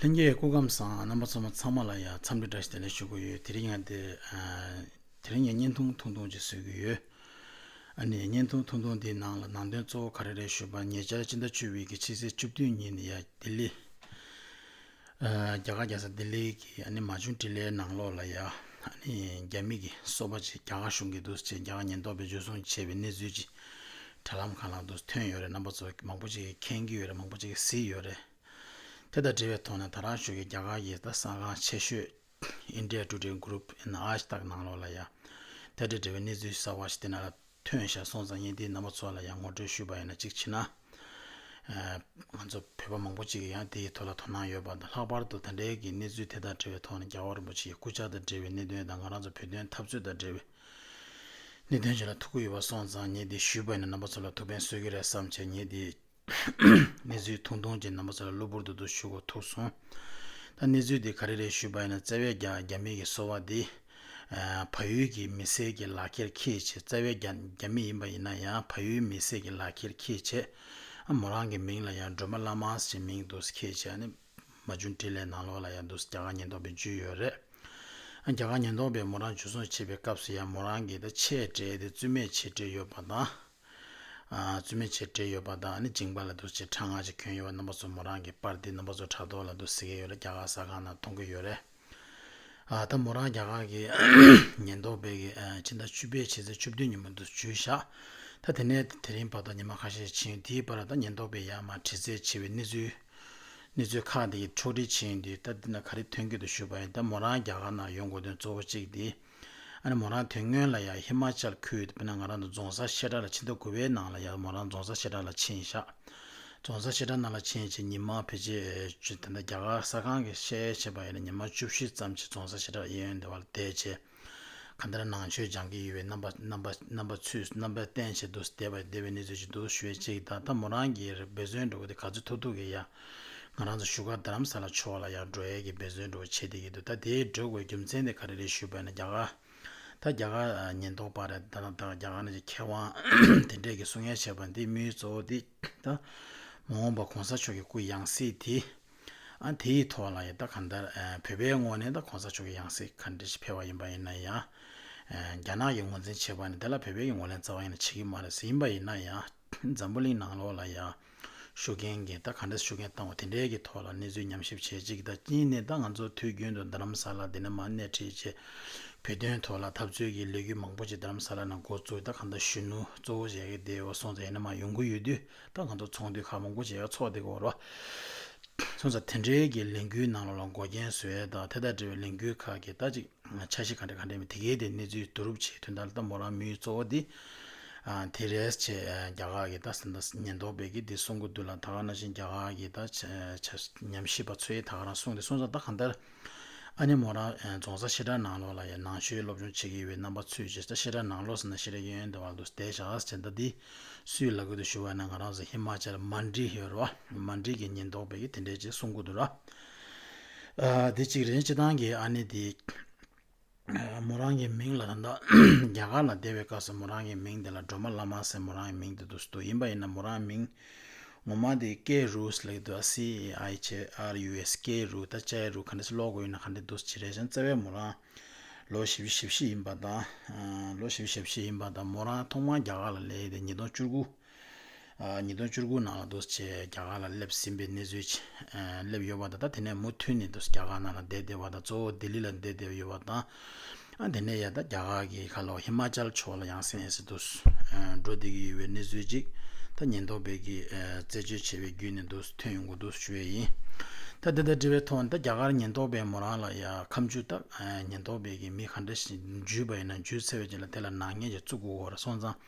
ལྷན་རྒྱས་སྐུ་ཁམས་བཟང་རྣམ་པ་ཚང་མ་ཚང་མ་ལ་ཡང་འཚམས་འདྲི་བཀྲ་ཤིས་བདེ་ལེགས་ཞུ་གི་ཡོད་དེ་རིང་ཡང་དེ་དེ་རིང་ཡང་བརྙན་ཐུང་ཐུང་ཐུང་ཅིག་བཟོས་ཀྱི་ཡོད་ཨ་ནི་བརྙན་ཐུང་ཐུང་ཐུང་འདིའི་ནང་ལ་ནང་དོན་གཙོ་བོ་ག་རེ་རེད་ཞུས་པར་ཉེ་ཆར་སྤྱི་ཟླ་བཅུ་བའི་གི་ཕྱི་ཚེས་བཅུ་བདུན་ཉིན་ནས་ཡང་ལྡི་ལི། རྒྱ་གར་རྒྱལ་ས་ལྡི་ལི་གི་ཨ་ནི་མ་བྱུང་དྲི་ལའི་ནང་ལོགས་ལ་ཡང་ཨ་ནི་རྒྱ་མི་གི་སོ་པ་ཅིག་རྒྱ་གར་གཞུང་གི་འདུག་ཅེས་རྒྱ་གར་ཉེན་རྟོག་པས་འཇུ་བཟུང་བྱས་པའི་གནས་ཚུལ་ཅིག་དྲ་ལམ་གང་ལ་འདུག་ཐོན་ཡོད་རེད་རྣམ་པ་ཚོ་མང་པོ་ཅིག་གིས་མཁྱེན་གྱི་ཡོད་རེད་མང་པོ་ཅིག་གིས་གཟིགས་ཡོད་རེད། དེ་དང་འབྲེལ་བའི་ཐོག་ནས་ད་རང་ཤོད་ཀྱི་རྒྱ་གར་གྱི་ས་ཁང་ཆེ་ཤོས India Today Group NIH དག་ནང་ལོགས་ལ་ཡང་དེ་དང་འབྲེལ་བའི་གནས་ཚུལ་གསར་བ་ཞིག་དེ་ན་ལ་ཐོན་ཤར་སོང་ཙང་ཡིན་དེའི་ནང་པ་ཚོ་ལ་ཡང་ངོ་སྤྲོད་ཞུས་པ་ཡིན་ན་གཅིག་བྱས་ན། ང་ཚོ་བོད་པ་མང་པོ་ཅིག་གིས་ཡང་དེའི་ཐོག་ལ་དོ་སྣང་ཡོད་པ་དང་ལྷག་པར་དུ་ད་འབྲེལ་གྱི་གནས་ཚུལ་དེ་དང་འབྲེལ་བའི་ཐོག་ནས་རྒྱལ་བ་རིན་པོ་ཆེའི་སྐུ་ཕྱྭ་དང་འབྲེལ་བའི་གནད་དོན་དང་ང་རང་ཚོ་བོད་དོན་འཐབ་རྩོད་དང་འབྲེལ་བའི་གནད་དོན་བཅས་ལ་ཐུགས་ཁུར་ཡོད་པ་སོང་ཙང་ངས་དེ་ཞུས་པ་ཡིན་ན་ནང་པ་ཚོ་ལ་ཐུགས་ཕན་གསོས་ཀྱི་རེད་བསམ་བྱས་ངས་དེ་གནས་ཚུལ་ཐུང་ཐུང་ཅན་རྣམ་པ་ཚོ་ལ་གློ་བུར་དུ་དུ་ཞུ་གོ་ཐུག་སོང། ད་གནས་ཚུལ་དེ་ག་རེ་རེད་ཞུས་པ་ཡིན་ན་རྩ་བའི་རྒྱ་རྒྱ་མི་གི་གསོ་བ་དེ། ཕ་ཡུལ་གི་མི་སེར་གྱི་ལག་ཁྱེར་ཁྱེད་ཆེད་རྩ་བའི་རྒྱ་རྒྱ་མི་ཡིན་པ་ཡིན་ན་ཡང་ཕ་ཡུལ་མི་སེར་གྱི་ལག་ཁྱེར་ཁྱེད་ཆེད། ཨ་མོ་རང་གི་མིང་ལ་ཡང་སྒྲོལ་མ་བླ་མ་ཞེས་མིང་འདུག་ཁྱེད་ཆེད་ཨ་ནི། མ་བྱུང་བཀྲིས་ལན་ནང་ལོགས་ལ་ཡང་འདུག་རྒྱ་གར་ཉེན་རྟོག་པའི་འཇུས་ཡོད་རེད། ཨ་རྒྱ་གར་ཉེན་རྟོག་པས་མོ་རང་འཇུ་བཟུང་བྱེད་པའི་སྐབས་སུ་ཡང་མོ་རང་གི་ད་ཆས་འབྲེལ་དེ་རྩོད་མེད་བྱེད་འབྲེལ་ཡོད་པ་དང། བཙུན་མོའི་ཆེད་སྤྲས་ཡོད་པ་དང་ནི་བྱིངས་པ་ལ་འདུག་ཅེས་ཕྲག་སྔ་ཕྱི་ཁྱོན་ཡོད་པ་རྣམ་པ་ཚོ་མོ་རང་གི་པར་འདི་རྣམ་པ་ཚོ་ཕྲག་དོག་ལ་འདུག་ཟེར་གྱི་ཡོད་ལ་རྒྱ་གར་ཟ་ཁང་ནང་མཐོང་གི་ཡོད་རེད། ད་མོ་རང་རྒྱ་གར་གྱི་ཉེན་རྟོག་པས་ཀྱི་ཕྱི་ཟླ་བཅུ་པའི་ཕྱི་ཚེས་བཅུ་བདུན་ཉིན་མོ་འདུག་བྱོས་ཤག་ད་དེ་ནས་དེ་རིང་བར་དུ་ཉིན་མ་ཁ་ཤས་ཕྱིན་དེའི་བར་ད་ཉེན་རྟོག་པས་ཡར་མར་དྲི་རྩད་བྱས་པའི་གནས་ཚུལ་གནས་ཚུལ་ཁག་དེ་ཀྱི་ཕྱོགས་བསྒྲིགས་བྱས་ཡོད་འདུག་ད་འདི་ན་ག་རེ་ཐོན་གྱི་འདུག་ཞུས་པ་ཡིན་ད་མོ་རང་རྒྱ་གར་ནང་ཡོང་དགོས་དོན་གཙོ་བོ་གཅིག་དེ། ཨ་རེ་མོ་རང་དོན་དངོས་ལ་ཡང་ཧི་མ་ཅལ་ཁུལ་དེ་བས་ན་ང་རང་དང་རྫོང་གསར་བཤད་གྲྭ་ལ་ཕྱིན་ཐུབ་དགོས་པའི་ནང་ལ་ཡང་མོ་རང་རྫོང་གསར་བཤད་གྲྭ་ལ་ཕྱིན་བཞག་རྫོང་གསར་བཤད་གྲྭ་ནང་ལ་ཕྱིན་རྗེས་ཉིན་མ་བེད་སྤྱོད་དེ་འདྲ་རྒྱ་གར་གསར་ཁང་གིས་བཤད་ཡོད་བྱས་པ་ཡིན་ན་ཉིན་མ་བཅུ་བཞི་ཙམ་གྱི་རྫོང་གསར་བཤད་གྲྭ་ལ་གཡས་གཡོན་དེ་བར་བསྡད་རྗེས་ག་འདྲ་ནང་ཆོས་སྦྱང་གི་ཡོད་པའི་རྣམ་པ་རྣམ་པ་རྣམ་པ་ཚུལ་རྣམ་པ་བསྟན་བྱས་འདུག་བསྡད་པ་བསྡད་པའི་གནས་ཚུལ་ཅིག་འདུག་ཞུ་བའི་ཅིག་ད་ལྟ་མོ་རང་གིས་འབོད་བརྩོན་འགྲོ་གི་འདུག་ག་ཚོད་ཐུག་ཐུག་གི་ཡ། ང་རང་ཚོ་བཞུགས་སྒར་རྡ་རམ་ས་ལ་ཆོས་བ་ལ་ཡང་འགྲོ་ཡས་ཀྱི་འབད་བརྩོན་འགྲོ་བ་བྱས་བསྡད་ཀྱི་འདུག་ད་དེའི་འགྲོ་དགོས་རྒྱུ་མཚན་དེ་ག་རེ་རེད་ཞུས་པ་ན་རྒྱ་གར། ད་རྒྱ་གར་ཉེན་རྟོག་པ་རེད་ད་ད་རྒྱ་གར་ནས་ཀྱི་མཁས་དབང་དེ་འདྲས་ཀྱི་གསུང་ཡ་བྱས་པ་འདི་མི་གཙོ་བོ་འདི་ད། མ་འོངས་པ་གོང་ས་མཆོག་གི་སྐུ་ཡང་སྲིད་དེ། ཨ་དེ་ཡི་ཐོག་ལ་ཡི་ད་ག་འདར་བོད་པའི་ངོ་ནས་ད་གོང་ས་མཆོག་གི་ཡང་སྲིད་ག་འདྲས་ཤིག་ཕེལ་བ་ཡིན་པ་ཡིན་ན་ཡང། རྒྱ་ནག་གི་ངོ་འཛིན་བྱས་པ་ནི་དེ་ལ་བོད་པའི་ངོ་ལན་རྩ་བ་ཡིན་ན་བྱེད་ཀྱི་མ་རེད་ཟེར་ཡིན་པ་ཡིན་ན་ཡང། འཛམ་བུ་གླིང་ནང་ལོགས་ལ་ཡང། ཞུ་མཁན་གྱིས་ད་ག་འདྲ་ཞུ་མཁན་བཏང་བ་དེ་འདྲའི་གྱི་ཐོག་ལ་གནས་ཚུལ་ཉམས་ཞིབ་བྱེད་ཅིག་ད་གཉིས་ནས་ད་ང་ཚོ་དུས་རྒྱུན་དུ་རྡ་རམ་ས་ལ་འདི་ན་མ་གནས་ཁྲིད་ཆེད་བོད་དོན་ཐོག་ལ་འཐབ་རྩོད་གྱི་ལས་གུས་མང་པོ་ཅིག་རྡ་རམ་ས་ལ་ན་འགོ་བཙུགས་ད་ག་འདྲ་གཞོན་ནུ་གཙོ་བོ་བྱས་ཀྱི་དེའོ་སོང་ཚ་ཡིན་ན་མ་ཡོང་གི་ཡོད་དུས་ད་ང་ཚོ་ཚོང་དུས་ཁག་མང་པོ་བྱས་ཀྱི་ཚོགས་དེ་གོ་རོ་སོང་ཚ་དེ་འདྲའི་གྱི་ལས་གུས་ནང་ལ་འགོ་རྐྱེན་བཟོས་ད་དེ་དང་འབྲེལ་བའི་ལས་གུས་ཁག་གི་ད་ཅིག་ཆ་ཤས་ག་འདྲ་ག་འདྲ་མི་དེ་གའི་དེ་གནས་ཚུལ་བསྡུ་རུབ་བྱེད་དུས་ད་ལྟ་མོ་རང་མོའི་གཙོ་བོ་དེ། དེ་རེས་བཅས་རྒྱ་གར་གྱི་ད་སིནྡ་ཉེན་རྟོག་པས་ཀིརྟི་གསུང་གི་དུས་ལ་ད་ག་ན་བཞིན་རྒྱ་གར་གྱི་ད་ཉམས་ཞིབ་པ་ཚོས་ད་ག་རང་གསུང་དེ་གསུང་ས་ད་ག་འདིར་ཨ་ནེ་མོ་རང་རྫོང་ས་ཤེ་དྲ་ནང་ལོགས་ལ་ཡང་ནང་ཆོས་སློབ་སྦྱོང་བྱེད་ཀྱི་ཡོད་པའི་རྣམ་པ་ཚུད་ཅེས་ས་ཤེ་དྲ་ནང་ལོགས་ས་ན་ཤེ་དྲ་ཡོད་ཡོད་འདི་བར་དུ་བསྡད་བཞག་ཨ་ཅེ་ད་འདི་སུའི་ལག་གི་དུ་ཞུ་བ་ཡིན་ན་ང་རང་ཟེར་ཧི་མ་ཅལ་མ་འདྲི་ཧེ་རོ་མ་འདྲི་གི་ཉེན་རྟོག་པས་ཀིརྟི་འདྲེ་ཅེས་གསུང་གི་འདུག་ར་འདི་གཅིག་རེད་སྤྱི་བཏང་གི་ཨ་ནེ་འདི། མོ་རང་གི་མིང་ལ་ད་ལྟ་རྒྱ་གར་ལ་བསྡད་པའི་སྐབས་སུ་མོ་རང་གི་མིང་དེ་ལ་སྒྲོལ་མ་བླ་མ་ཟེར་མོ་རང་གི་མིང་དེ་འདུག་སྡུག་ཡིན་པ་ཡིན་ན་མོ་རང་མིང་ངོ་མ་དེ་ཀེ་རུས་ལེགས་འདུག་སི་ཨེ་ཨའི་ཆེ་ཨར་ཡུ་ཨེས་ཀེ་རུས་ད་ཅའི་རུས་ག་འདྲེ་སི་ཀློག་དགོས་ཡིན་ན་ག་འདྲེ་འདུག་ཇི་རེ་ཞང་བརྩེ་བའི་མོ་རང་ལོ་བཞི་བཅུ་ཞེ་བཞི་ཡིན་པ་དང། ལོ་བཞི་བཅུ་ཞེ་བཞི་ཡིན་པ་དང་མོ་རང་ཐོག་མར་རྒྱ་གར་ལ་ལས་ཡོད་དེ་ཉིས་སྟོང་བཅུ་དགུ། ཉིས་སྟོང་བཅུ་དགུ་ནང་ལ་འདུས་བྱས་རྒྱ་གར་ལ་སླེབས་ཟིན་པའི་གནས་ཚུལ། སླེབས་ཡོད་པ་དང་དེ་ནས་མུ་མཐུད་ནས་འདུས་རྒྱ་གར་ནང་ལ་བསྡད་བསྡད་བ་དང་གཙོ་བོ་ལྡི་ལི་ལ་བསྡད་བསྡད་ཡོད་པ་དང། དེ་ནས་ཡང་ད་རྒྱ་གར་གྱི་ཁ་ལོ་ཧི་མ་ཅལ་ཕྱོགས་ལ་ཡང་སེང་ཨེ་སི་འདུས་འགྲོ་བསྡད་ཀྱི་ཡོད་པའི་གནས་ཚུལ་ཅིག་ད་ཉེན་རྟོག་པས་ཀྱིས་རྩད་གཅོད་བྱས་པའི་བརྒྱུད་ནས་འདུས་ཐོན་ཡོང་གི་འདུག་ཞུ་བས་ཡིན། ད་དེ་ལྟར་དྲི་བའི་ཐོག་ནས་ད་རྒྱ་གར་ཉེན་རྟོག་པས་མོ་རང་ལ་ཡ་ཁམས་ཇུས་བཏགས་ཉེན་རྟོག་པས་ཀྱིས་མི་ག་འདྲ་ཞིག་འཇུས་པ་ཡིན་ན་འཇུས་ཚེ་བས་ཀྱིས་ལ་དེ་ལ་ནག་ཉེས་ཀྱིས་བཙུགས་དགོས་འོར་སོང་ཙང།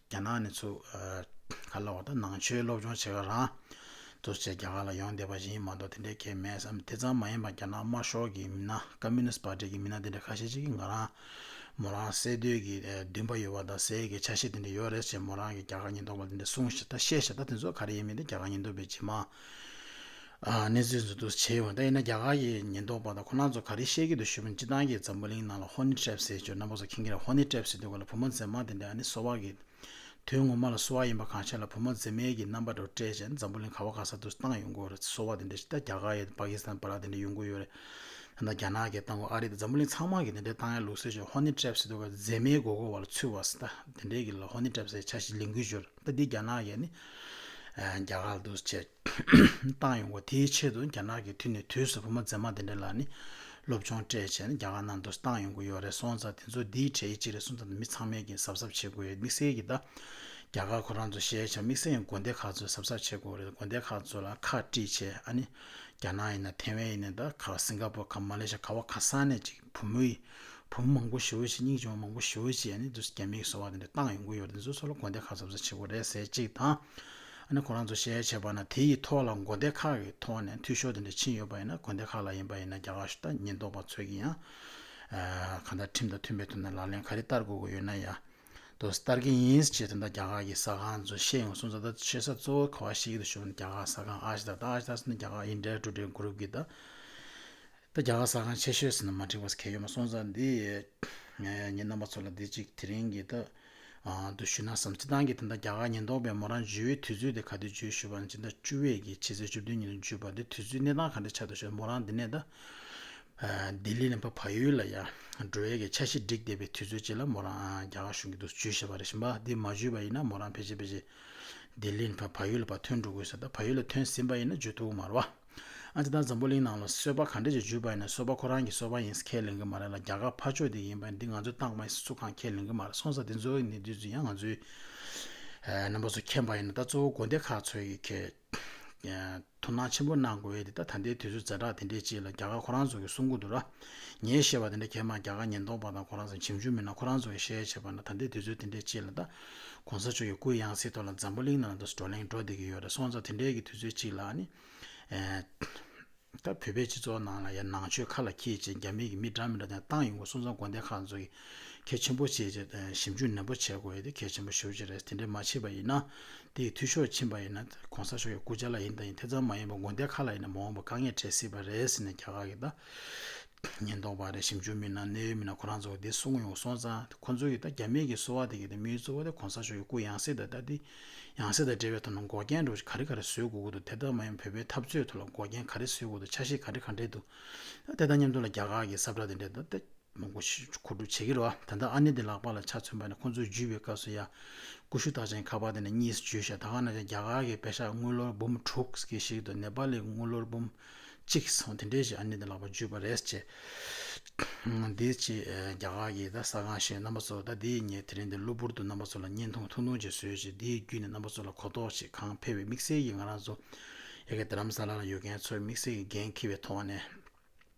རྒྱ་ནག་ནས་ཚུགས། ག་ལ་བ་དང་ནང་ཆོས་སློབ་སྦྱོང་བྱེད་ག་རང། དུ་བྱས་རྒྱ་གར་ལ་ཡོང་བསྡད་པ་བཞིན་ཡིན་མ་གཏོགས་དེ་འདྲའི་གལ་མེད་བསམ་དེ་ཙམ་མ་ཡིན་པར་རྒྱ་ནག་དམར་ཤོག་གི་མི་སྣ Communist Party གི་མི་སྣ་དེ་འདྲ་ཁ་ཤས་ཅིག་གིས་ང་རང། མོ་རང་བསད་འདོད་ཀྱི་འདུན་པ་ཡོད་པ་དང་ཟས་ཀྱི་ཆ་ཤས་དེ་འདྲ་ཡོད་རེད་ཅེས་མོ་རང་གིས་རྒྱ་གར་ཉེན་རྟོག་པར་དེ་འདྲ་གསུངས་ཞེས་ད་བཤད་ཞེས་ད་དེ་ཚོ་ག་རེ་ཡིན་མིན་དེ་རྒྱ་གར་ཉེན་རྟོག་པའི་སྤྱི་དམངས་གནས་ཚུལ་མཛུབ་སྟོན་བྱས་ཡོང། དབྱིན་ན་རྒྱ་གར་གྱི་ཉེན་རྟོག་པ་དང་ཁོ་ན་ཚོ་ག་རེ་བཤད་ཀྱི་འདུག་ཞུ་མི་སྤྱི་བཏང་གིས་འཛམ་བུ་གླིང་ནང་ལ་ཧོ་ནི་ཏྲེབ་སེ་ཇོ་རྣམ་པ་ཚོ་ཁེངས་ཀྱི་རེད་ཧོ་ནི་ཏྲེབ་སེ་འདུག་ག་ལ་བུ་མོ་མཛེས་མ་དེ་འདྲ་ནི་སོ་བ་གི། དོན་ངོ་མ་ལ་སོ་བ་ཡིན་པ་གང་ཤེས་ལ་བུ་མོ་མཛེས་མའི་གི་རྣམ་པ་དེ་འདྲ་སྤྲད་བྱས་ན་འཛམ་བུ་གླིང་ག་བ་ག་ས་དུ་བཏང་ཡོང་གི་རེད་སོ་བ་དེ་འདྲ་ཞིག་ད་རྒྱ་གར་ཡི་པ་ཀི་སི་ཐན་བ་ར་དེ་འདྲ་ཡོང་གི་ཡོད་རེད། ད་རྒྱ་ནག་གི་བཏང་གོ་ཨ་རི་དང་འཛམ་བུ་གླིང་ཚང་མ་གི་དེ་འདྲ་བཏང་ཡ་ལུགས་སོ་ཅོ་ཧོ་ནི་ཏྲེབ་སེ་འདུག་ག་མཛེས་མའི་མགོ་སྐོར་བ་ལ་ཚུད་བ་སི་ད་དེ་འདྲ་གི་ལ་ཧོ་ནི་ཏྲེབ་སེ་ཆ་ཞིག་ལེན་གི་ཡོད་རེད། ད་ལྟའི་རྒྱ་ནག་ཡ་ནི་རྒྱ་གར་འདུ་བྱས་བཏང་ཡོང་བ་དེའི་ཆེད་དུ་རྒྱ་ནག་གི་དུས་ནས་དུས་སུ་བུ་མོ་མཛེས་མ་དེ་འདྲ་ལ་ནི་སློབ་སྦྱོང་སྤྲད་བྱས་ནས་རྒྱ་གར་ནང་འདུ་བཏང་ཡོང་གི་ཡོད་རེད་སོང་ཙང་དེ་ཚོ་འདིའི་གྲས་གཅིག་རེད་སོང་ཙང་མི་ཚང་མས་ཀྱིས་གཟབ་གཟབ་བྱེད་དགོས་ཡོད་དམིགས་བསལ་གྱིས་ད་རྒྱ་གར་ཁོ་རང་ཚོ་ཤེས་བྱ་དམིགས་བསལ་ཡང་དགོན་སྡེ་ཁག་ཚོས་གཟབ་གཟབ་བྱེད་དགོས་རེད་དགོན་སྡེ་ཁག་ཚོ་ལ་ཁག་དཀྲིས་བྱས་ཨ་ནི་རྒྱ་ནག་ཡིན་ན་ཐེ་ཝན་ཡིན་ན་ད་ག་སིང་ག་པོ་ག་མ་ལེ་ཤ་ག་བ་ག་ས་ནས་ཅིག་བུ་མོ་ཡིས། བུ་མོ་མང་པོ་ཞི་བའི་ཕྱིར་སྙིང་རྗེ་བ་མང་པོ་ཞི་བའི་ཕྱིར་ཡང་ནི་དུས་སུ་རྒྱ་མིའི་གསོ་བ་དེ་འདྲ་བཏང་ཡོང་གི་ཡོད་རེད་ཟུར་སོགས་ལ་དགོན་སྡེ་ཁག་གསར་བཟོ་བྱེད་དགོས་རེད་ཟེར་ཅིག་དང། ཨ་ནི་ཁོ་རང་ཚོ་ཤེས་ཡ་བྱེད་པ་ན་དེ་ཡི་ཐོག་ལ་དགོན་སྡེ་ཁག་གི་ཐོག་ནས་འཐུས་ཤོར་དེ་འདྲ་ཕྱིན་ཡོད་པ་ཡིན་ན་དགོན་སྡེ་ཁག་ལ་ཡིན་པ་ཡིན་ན་རྒྱ་གར་ཤུལ་ད་ཉེན་རྟོག་པ་ཚོས་ཀྱིས་ཡང། གང་ལྟར་ཁྲིམས་དང་མཐུན་པའི་ཐོག་ནས་ལག་ལེན་ག་རེ་བསྟར་དགོས་དགོས་ཡོད་ན་ཡང། དོ་བསྟར་གྱི་ཡིན་ཅེས་དེ་འདྲ་རྒྱ་གར་གྱི་ས་ཁང་ཚོས་བཤད་ཡོང་སོང་ད་ལྟ་བཤད་ས་གཙོ་བོ་ག་བ་ཞིག་གི་དུ་ཞུགས་ན་རྒྱ་གར་ས་ཁང་ཨ་ཞི་དར་ད་ཨ་ཞི་དར་སོགས་ནི་རྒྱ་གར་ཨིན་དྲའི་འགྲོ་གྲའི་འགོ་རུབ་ཀྱི་ད། ད་རྒྱ་གར་ས་ཁང་ཆེ་ཤོས་ཟེར་ན་མ་འགྲིག་པ་གལ་ཡོད་མ་སོང་ཙང་འདི། ངའི་ཉིན་རྣམ་པ་ཚོ་ལ་འདི་གཅིག་དེ་རིང་གི་ད། འདུ་ཞུ་གནང་བསམ་སྤྱི་བཏང་གི་དེ་འདྲ་རྒྱ་གར་ཉེན་རྟོག་པས་མོ་རང་བརྗོད་ཡུལ་དུས་ཚོད་དེ་ག་དུས་བརྗོད་ཞུས་པ་ནི་སྤྱི་ཟླ་བཅུ་བའི་གི་ཕྱི་ཚེས་བཅུ་བདུན་ཉིན་ལ་བརྗོད་པ་འདི་དུས་ཚོད་གནས་སྟངས་ག་འདྲ་ཆགས་འདུག་ཞུས་པ་མོ་རང་འདི་ནས་ད། ལྡི་ལི་ནས་ཕ་ཕ་ཡུལ་ལ་ཡར། འགྲོ་བའི་གི་འཆར་གཞི་བསྒྲིགས་བསྡད་པའི་དུས་ཚོད་ཅིག་ལ་མོ་རང་རྒྱ་གར་བཞུགས་ཀྱི་འདུག་བརྗོད་ཞེས་པ་རེད་བཞིན་པ་འདི་མ་བརྗོད་པ་ཡིན་ན་མོ་རང་ཕལ་ཆེར་ཕལ་ཆེར། ལྡི་ལི་ནས་ཕ་ཕ་ཡུལ་ལ་བར་ཐོན་འགྲོ་དགོས་ས་ད་ཕ་ཡུལ་ལ་ཐོན་ཟིན་པ་ཡིན་ན་བརྗོད་ཐུག་གི་མ་རེད་བ། ཨ་ཅེ་ད་འཛམ་བུ་གླིང་ནང་ལ་གསོལ་པ་ག་འདྲ་ཅིག་འཇུས་པ་ཡིན་ན་གསོལ་པ་ཁོ་རང་གི་གསོལ་པ་ཡིན་ས་ཁས་ལེན་གི་མ་རེད་ལ་རྒྱ་གར་ཕར་ཕྱོགས་དེ་ཡིན་པ་འདི་ང་ཚོའི་ཏང་མ་ཡིན་ས་ཚུར་གང་ཁས་ལེན་གི་མ་རེད་སོང་ས་དེ་ཚོའི་གནས་དུས་ཚོད་ཡང་ང་ཚོའི་རྣམ་པ་ཚོ་མཁྱེན་པ་ཡིན་ན་ད་གཙོ་བོ་དགོན་སྡེ་ཁག་ཚོས་ཡི་གེ་དོ་སྣང་ཆེན་པོ་གནང་དགོས་ཡས་དེ་ད་ད་ལྟའི་དུས་ཚོད་ཛེ་དྲག་དེ་འདྲའི་ཅིག་ལ་རྒྱ་གར་ཁོ་རང་ཚོ་གི་གསུང་གོ་འདུག་ར་ངས་བཤད་པ་དེ་འདྲ་གས་མ་རྒྱ་གར་ཉེན་རྟོག་པ་དང་ཁོ་རང་ཚོ་ཇེམ་ཆུང་མིན་ན་ཁོ་རང་ཚོ་གི་ཤེས་ཡས་བྱས་པ་ན་ད་ལྟའི་དུས་ཚོད་དེ་འདྲའི་ཅིག་ལ་ད ྋགོང་ས་མཆོག་གི་སྐུའི་ཡང་སྲིད་ཐོག་ལ་འཛམ་བུ་གླིང་ནང་དུ་བགྲོ་གླེང་འགྲོ་བསྡད་ཀྱི་ཡོད་རེད་སོང་ཙང་དེ་འདྲའི་གི་དུས་ཚོད་ཅིག་ལ་ནི། ད་བོད་པའི་སྤྱི་ཚོགས་ནང་ལ་ཡ་ནང་ཆོས་ཁ་ལ་འཁྱིལ་ཅིང་རྒྱ་མི་གི་མི་དྲག་མི་དྲག་དེ་ཏང་ཡོངས་ཀྱི་སོང་ཙང་དགོན་སྡེ་ཁག་ཚོ་གི་གལ་ཆེན་པོ་བྱེད་ཅེས་ཞིབ་འཇུག་ནན་པོ་བྱེད་དགོས་ཡོད་དེ་གལ་ཆེན་པོ་ཞུ་བྱེད་རེད་དེ་འདྲའི་མ་བྱེད་པ་ཡིན་ན། དེ་ཡི་འཐུས་ཤོར་ཕྱིན་པ་ཡིན་ན ྋགོང་ས་མཆོག་གི་སྐུ་ཇག་ལ་ཡིན་དང་ཡིན་དེ་ཙམ་མ་ཡིན་པར་དགོན་སྡེ་ཁག་ལ་ཡིན་ན་མ་འོངས་པར་དཀའ་ངལ་འཕྲད་སྲིད་པ་རེད་ཟེར་ནས་རྒྱ་གར་གི་ད། ཉེན་རྟོག་པ་རེད་ཞིབ་འཇུག་མི་སྣ་གནད་ཡོད་མི་སྣ་ཁོ་རང་ཚོ་དེ་སྲུང་ཡོང་སོང་ཙང་དེ་ཁོ་ཚོ་ཡིས་ད་རྒྱ་མིའི་གི་གསོ་བ་དེ་གི་དེ་མིའི་གཙོ་བོ་དེ་གོང་ས་མཆོག་གི་སྐུ་ཡང་སྲིད་དང་ད་དེ་ཡང་སྲིད་དང་འབྲེལ་བའི་ཐོག་ན་འགོག་རྐྱེན་འགྲོ་གཞི་ག་རེ་ག་རེ་བཟོས་དགོས་ཀྱི་འདུག་དེ་ལྟར་མ་ཡིན་བོད་པའི་འཐབ་རྩོད་ཐོག་ལ་འགོག་རྐྱེན་ག་རེ་བཟོས་དགོས་འདུག་ཆ་ཤས་ག་རེ་ག་འདྲེ་འདུག་ད་དེ་དང་མཉམ་དུ་ལ་རྒྱ་གར་གི་གསབ་དྲག་དེ་འདྲེ་ད་དེ་མོ་མགོ་ཕྱི་འཁོར་སྒྲུབ་བྱེད་ཀྱི་རོ་ད་ལྟ་ཨ་ནེ་དེ་ལག་པ་ལ་ཆ་མཚོན་པ་ནི་ཁོ་ཚོ་འཇུས་པའི་སྐབས་སུ་ཡ་ཀུ་ཤུ་རྟགས་ཅན་ཁ་པར་དེ་ནས་གཉིས་བརྗོད་བཞག་ད་ག་ན་ཅང་རྒྱ་གར་གི་བེ་ཤ་དངུལ་ལོར་འབུམ་དྲུག་གི་ཞིག་ཏུ་ནེ་པ་ལི་དངུལ་ལོར་འབུམ་གཅིག་གིས་སོང་དེ་འདྲའི་ཞིག་ཨ་ནེ་དེ་ལགས་པ་བརྒྱུད་པ་རེད་ཅེས། དེའི་ཆེད་རྒྱ་གར་གྱི་ད་ས་ཁང་ཞེས་རྣམ་པ་ཚོ་ད་དེའི་ཉེ་དེ་རིང་དེར་གློ་བུར་དུ་རྣམ་པ་ཚོ་ལ་བརྙན་ཐུང་ཐུང་ཐུང་ཅིག་བཟོས་རྗེས་དེའི་བརྒྱུད་ནས་རྣམ་པ་ཚོ་ལ་གོ་རྟོགས་ཆེ་གང་འཕེལ་བའི་དམིགས་བསལ་གྱིས་ང་རང་ཚོ་ཡ་གི་དྷརམ་ས་ལ་ལ་ཡོད་མཁན་ཚོའི་དམིགས་བསལ་གྱི་འགན་འཁྱེར་བའི་ཐོག་ནས་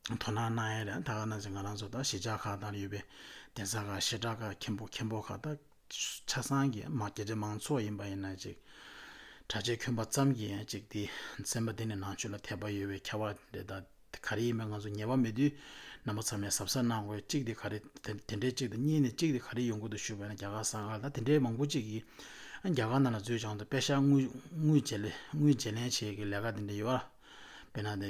དོ་སྣང་གནང་ཡས་རེད་ད་ག་ནང་ཚེ་ང་རང་ཚོ་ད་གཞིས་ཆགས་ཁག་དང་ཡོད་པའི་གདན་ས་ཁག་ཤེས་གྲགས་ཁག་མཁན་པོ་མཁན་པོ་ཁག་ད། ཆ་ཚང་གི་དམག་རྒྱལ་གྲི་མང་ཚོགས་ཡིན་པ་ཡིན་ན་ཅིག། གྲྭ་ཆས་གྱོན་པ་ཙམ་གྱིས་ཡང་ཅིག་དེ་སེམས་པ་དེ་ནི་ནང་ཆོས་ལ་དད་པ་ཡོད་པའི་ཁ་བ་རེད་ད། དེ་ག་རེ་ཡིན་པ་ང་ཚོ་ངེས་པ་མེད་དུས་རྣམ་པ་ཚང་མས་གཟབ་གཟབ་གནང་དགོས་གཅིག་དེ་ག་རེ་དེ་འདྲས་གཅིག་དང་གཉིས་ནས་གཅིག་དེ་ག་རེ་ཡོང་ཁུལ་དུ་ཞུགས་པ་ཡིན་ན་རྒྱ་གར་ས་ག་ལ་དེ་འདྲས་མང་པོ་ཅིག་གིས་རྒྱ་གར་ནང་ལ་འཛུལ་བྱང་དུ་དཔེ་ཤག་དངུལ་དངུལ་བརྗེ་ལེན་དངུལ་བརྗེ་ལེན་བྱེད་ཀྱི་ལས་ཀ་དེ་འདྲས་ཡོད། དཔེར་ན་དེ།